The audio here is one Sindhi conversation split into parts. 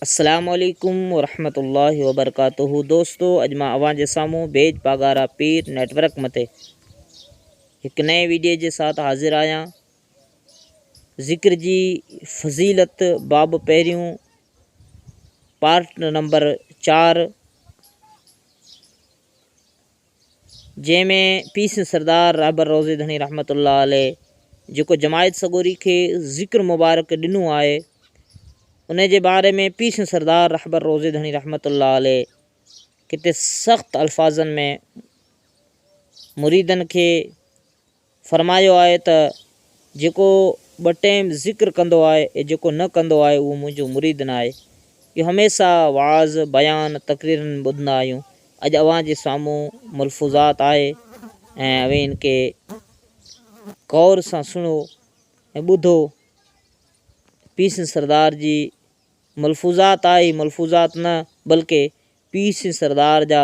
السلام عليڪم ورحمة الله وبرڪاته دوستو اڄ مان اوهان جي سامهون بيج پاڳارا پير نيٽ ورڪ مٿي هڪ نئين ويڊيو جي ساٿ حاضر آهيان ذڪر جي فضيلت باب پهريون پارٽ نمبر چار جنهن ۾ پيسن سردار رهبر روضي ڌڻي رحمة الله عليه جيڪو جماعت سڳوري کي ذڪر مبارڪ ڏنو آهي ان جي باري ۾ پيسن سردار رهبر روضي ڌڻي رحمة الله عليه ڪٿي سخت الفاظن ۾ مريدن کي فرمايو آهي ته جيڪو ٻه ٽيم ذڪر ڪندو آهي ۽ جيڪو نه ڪندو آهي اهو منهنجو مريد نه آهي. اهو هميشه وعظ، بيان، تقريرن ۾ ٻڌندا آهيون. اڄ اوهان جي سامهون ملفوظات آهي ۽ اوهين ان کي غور سان سڻو ۽ ٻڌو. پير سنڌ سردار جي ملفوظات آهي، ملفوظات نه بلڪه پير سنڌ سردار جا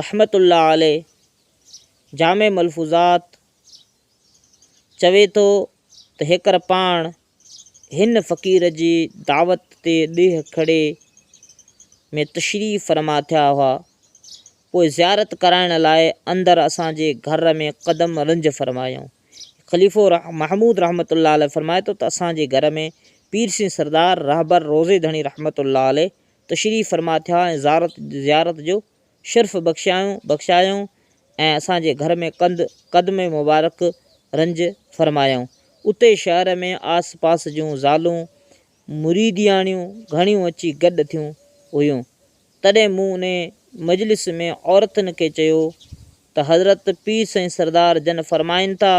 رحمة الله عليه جامع ملفوظات چوي ٿو ته هيڪر پاڻ هن فقير جي دعوت تي ڏيهه کڙي ۾ تشريف فرما ٿيا هئا، پوء زيارت ڪرائڻ لاء اندر اسان جي گهر ۾ قدم رنج فرمايائون. خليفو محمود رحمة الله عليه فرمائي ٿو ته اسان جي گهر ۾ پير سين سردار رهبر روضي ڌڻي رحمة الله عليه تشريف فرما ٿيا ۽ زارت، زيارت، جو شرف بخشيائون، بخشايائون ۽ اسان جي گهر ۾ ڪنڌ، قدم، مبارڪ رنج فرمايائون. اتي شهر ۾ آس پاس جون زالون مريدياڻيون گهڻيون اچي گڏ ٿيون هيون. تڏهن مون انهي مجلس ۾ عورتن کي چيو ته حضرت پير سائين سردار جن فرمائن ٿا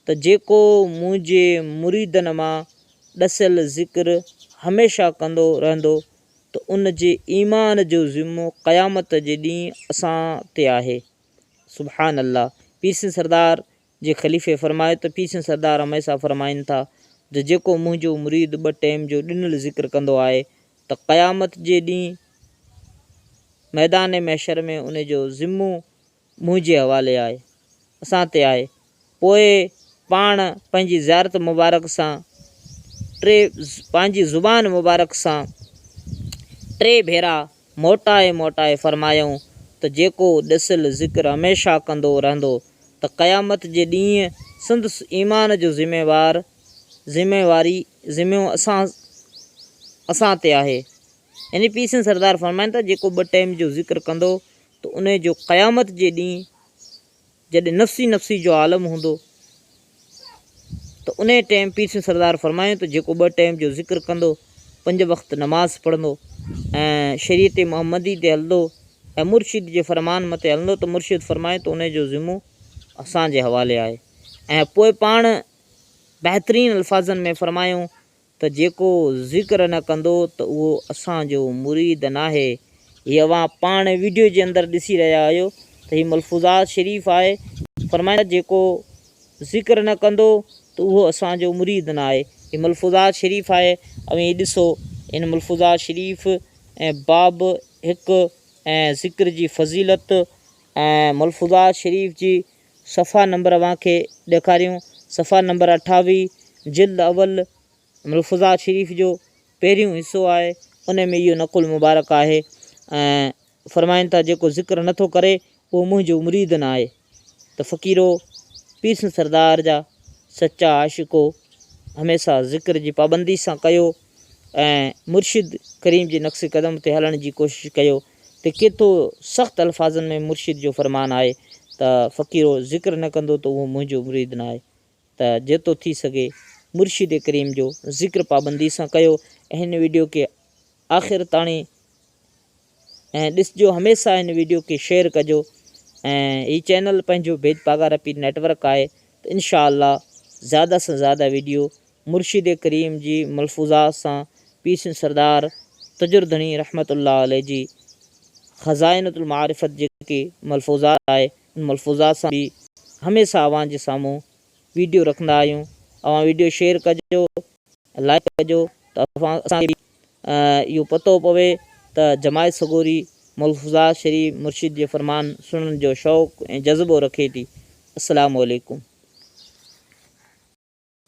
ته جيڪو منهنجي مريدن مان ڏسيل ذڪر هميشه ڪندو رهندو ته ان جي ايمان جو ذمو قيامت جي ڏينهن اسان تي آهي سبحان الله پير سائين سردار جي خليفي فرمايو ته پيشن سردار هميسا فرمائن ٿا ته جيڪو منهنجو مريد ٻه ٽيم جو ڏنل ذڪر ڪندو آهي ته قيامت جي ڏينهن ميدان محشر ۾ ان جو ذمو منهنجي حوالي آهي، اسان تي آهي، پوء پاڻ پنهنجي زيارت مبارڪ سان ٽي پنهنجي زبان مبارڪ سان ٽي ڀيرا. موٽائي موٽائي فرمايائون ته جيڪو ڏسيل ذڪر هميشه ڪندو رهندو ته قيامت جي ڏينهن سندس ايمان جو ذميوار، ذميواري، ذمو اسان، اسان تي آهي. يعني پير سنڌ سردار فرمائن ٿا جيڪو ٻه ٽيم جو ذڪر ڪندو ته انهي جو قيامت جي ڏينهن. جڏهن نفسي نفسي جو عالم هوندو ته انهي ٽيم پير سنڌ سردار فرمايو ته جيڪو ٻه ٽيم جو ذڪر ڪندو، پنج وقت نماز پڙهندو ۽ شريعت محمدي تي هلندو ۽ مرشد جي فرمان متي هلندو ته مرشد فرمايو ته انهي جو ذمو اسان جي حوالي آهي ۽ پوء پاڻ بهترين الفاظن ۾ فرمايو ته جيڪو ذڪر نه ڪندو ته اهو اسان جو مريد ناهي. هي اوهان پاڻ ويڊيو جي اندر ڏسي رهيا آهيو ته هي ملفوظات شريف آهي فرمائن ٿا جيڪو ذڪر نه ڪندو ته اهو اسان جو مريد ناهي هي ملفوظات شريف آهي اوهين هي ڏسو ان ملفوظات شريف ۽ باب هڪ ۽ ذڪر جي فضيلت ۽ ملفوظات شريف جي صفحا نمبر اوهان کي ڏيکاريون. صفحا نمبر اٺاويهه جلد اول ملفوظات شريف جو پهريون حصو آهي، ان ۾ اهو نقل مبارڪ آهي ۽ فرمائن ٿا جيڪو ذڪر نه ٿو ڪري اهو منهنجو مريد نه آهي ته فقيرو پيرسن سردار جا سچا عاشقو هميشه ذڪر جي پابندي سان ڪيو ۽ مرشد ڪريم جي نقش قدم تي هلڻ جي ڪوشش ڪيو ته ڪيتو سخت الفاظن ۾ مرشد جو فرمان آهي ته فقيرو ذڪر نه ڪندو ته اهو منهنجو مريد نه آهي ته جيتو ٿي سگهي مرشد ڪريم جو ذڪر پابندي سان ڪيو ۽ هن ويڊيو کي آخر تاڻي ۽ ڏسجو هميسا هن ويڊيو کي شيئر ڪجو ۽ هي چينل پنهنجو ڀيد پاڳارپي نيٽ ورڪ آهي ته انشاء الله زياده سان زياده ويڊيو مرشد ڪريم جي ملفوظات سان پيرسين سردار تجر ڌڻي رحمة الله عليه جي خزائنة المعارفت جيڪي ملفوظات آهي ان ملفوظات سان به هميسه اوهان جي سامهون ويڊيو رکندا آهيون اوهان ويڊيو شيئر ڪجو لائيڪ ڪجو ته اوهان اسان کي به اهو پتو پوي ته جماعت سڳوري ملفوظات شريف مرشد جي فرمان سڻڻ جو شوق ۽ جذبو رکي ٿي السلام عليڪم.